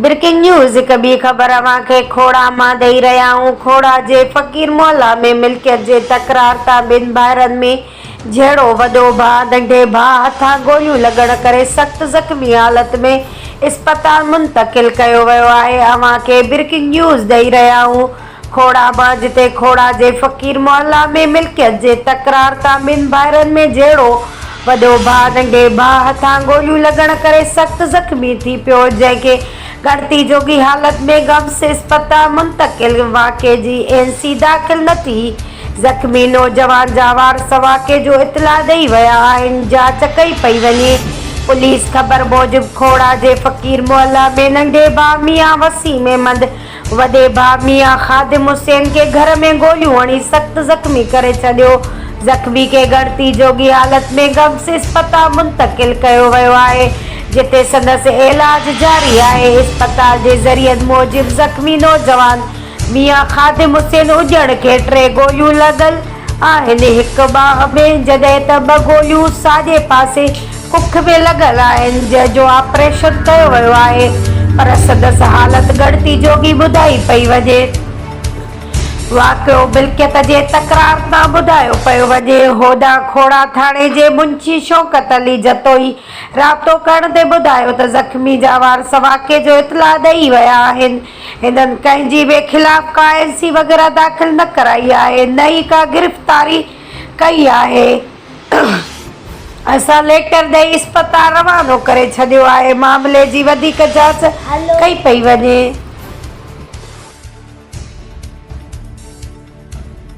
Breaking news هڪ ٻي خبر اوهان کي کوڙا مان ڏئي رهيا آهيون کوڙا جي فقير محلا ۾ ملڪيت جي تڪرار تان ٻن ڀائرن ۾ جهڙو وڏو ڀاء ننڍي ڀاء هٿان گوليون لڳڻ ڪري سخت زخمي حالت ۾ اسپتال منتقل ڪيو ويو آهي اوهان کي بريڪنگ نيوز ڏئي رهيا آهيون کوڙا مان جتي کوڙا جي فقير محلا ۾ ملڪيت جي تڪرار تان ٻن ڀائرن ۾ جهڙو وڏو ڀاء ننڍي ڀاء هٿان گوليون لڳڻ ڪري سخت زخمي ٿي پيو جنهن کي ڳڻتي جوڳي حالت ۾ گمس اسپتال منتقل واقعي جي اين سي داخل نه ٿي زخمي نوجوان جا وارث واقعي جو اطلاع ڏئي ويا آهن، جاچ ڪئي پئي وڃي. پوليس خبر موجب کوڙا جي فقير محله ۾ ننڍي ڀاء ميان وسيم احمد وڏي ڀاء ميان خادم حسين کي گهر ۾ گوليون هڻي سخت زخمي ڪري ڇڏيو. زخمي کي ڳڻتي جوڳي حالت ۾ گمس اسپتال منتقل ڪيو ويو آهي، جتي سندس عيلاج جاري آهي. اسپتال جي ذريعن موجب زخمي نوجوان ميان خادم حسين اجهڙ کي ٽي گوليون لڳل آهن، هڪ ٻانهن ۾ جڏهن ته ٻه گوليون ساڄي پاسي ڪک ۾ لڳل آهن، جنهن جو آپريشن ڪيو ويو آهي پر سندس حالت ڳڻتي جوڳي ٻڌائي پئي وڃي. واقعو ملڪيت جي تڪرار تان ٻڌايو پيو وڃي. هوڏانهن کوڙا ٿاڻي جي منشي شوڪت علي جتوئي رابطو ڪرڻ تي ٻڌايو ته زخمي جانوارس واقعي جو اطلاع ڏئي ويا آهن، هنن ڪنهن جي به خلاف ڪا اين سي وغيره داخل نه ڪرائي آهي نه ئي ڪا گرفتاري ڪئي آهي اسان ليٽر ڏئي اسپتال روانو ڪري ڇڏيو آهي معاملي جي وڌيڪ جاچ ڪئي پئي وڃي.